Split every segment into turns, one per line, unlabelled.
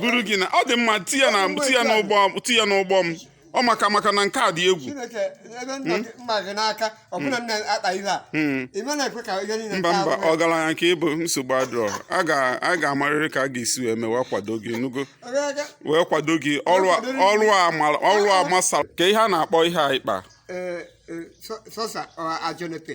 buru gị na ọ dị mma ti ya na ti ya n'ụgbọ ti ya n'ụgbọ m ọ maka maka na nke a dị egwu Chineke ebe nna gị mma gị n'aka ọbụna nna akpa ihe a ị ma na-ekwe ka ihe niile mba taa mba ahụhụ. ọgaranya ka ị bụ nsogbu adịrọ a ga- a ga-amarịrị ka a ga-esi wee mewe kwado gị nugo Ogologo, wee kwado gị ọrụ a- kwadoro gị. ọrụ a mara- ọrụ a masara ka ihe a na-akpọ ihe a ịkpa ee, ee, sọ- sọsa ọ ajọnepe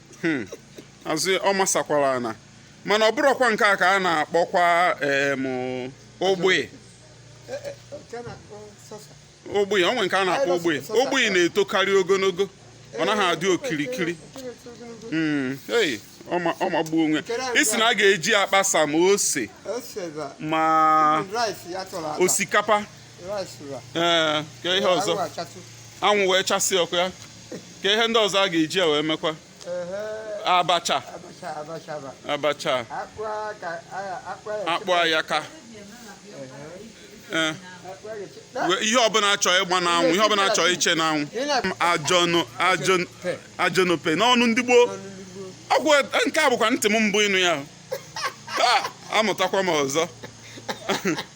hmm. azụ ọ masakwara ana mana ọ bụrụkwa nke a ka a na-akpọkwa ogbe ogbe o nwe nke a na-akpọ ogbe ogbe na-etokarị ogologo ọ naghị adị okirikiri hmm. ọ magbuo onwe ị sị na a ga-eji akpasa ma ose ma osikapa ee ka ihe ọzọ anwụ wee chasị ọkụ ya ka ihe ndị ọzọ a ga-eji ya wee mekwa abacha abacha akpụ ayaka Eh. ihe ọbụla a chọ ịgba n'anwụ ihe ọbụla a chọ iche n'anwụ ajọnope n'ọnụ ndị gboo ọgwụ eh, nke a bụkwa ntị m mbụ ịnụ ya Ah, amụtakwa m ọzọ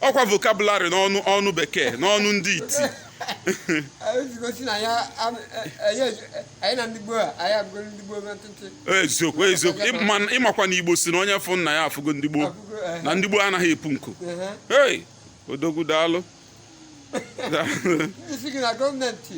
ọ kwa vocabulary n'ọnụ ọnụ Bekee n'ọnụ ndị iti ezigosi na ya am- e- e- ya ezu- e- anyị na ndị gboo a anyị abụgo ndị gboo na ntụtụ eziokwu eziokwu Ịma- ị makwa na Igbo sị na onye fụ nna ya afụgo ndị gboo abụgo eh, na ndị gboo anaghị epu nku eh, hey odogwu daalụ Daalụ. ndị sị gị na gọọmenti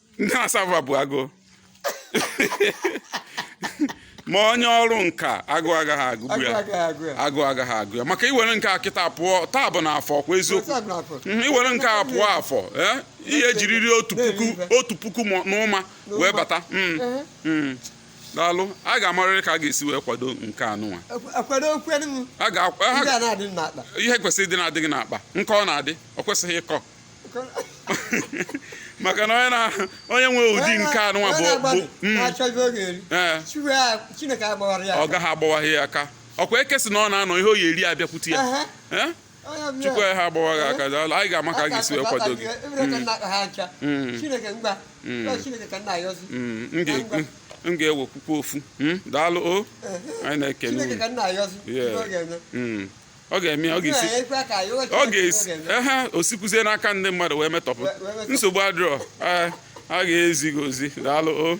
ndị asava bụ agụ ma onye ọrụ nka agụụ agaghị agụgbu ya agụụ agaghị agụ ya maka i were nke a kịta pụọ taa bụ na afọ kwa eziokwu mhm, i were nke a pụọ Afọ eh, ihe jiriri otu puku otu puku n'ụma wee bata mm, mm. daalụ a ga-amarịrị ka a ga-esi wee kwado nke anụnwa ihe kwesịrị ịdị na-adịghị n'akpa nke ọ na-adị ọ kwesịghị ịkọ maka na onye na onye nwe ụdị nke anụnwa bụ hmm. eh. ọ gaghị agbawa ya aka ọ kwa eke sị na ọ na-anọ ihe ọ ya-eri abịakwute ya eh? Chukwu ya ha agbawa gị aka daalụ anyị ga-ama ka a ga-esi wee kwado gị m ga-ewekwukwa ofu hmm? daalụ o anyị na-ekene ọ ga-eme ọ ga-esi ọ ga-esi ehe o sikwuzie n'aka ndị mmadụ wee metọpụ nsogbu adịrọ a ga-ezi gị ozi daalụ o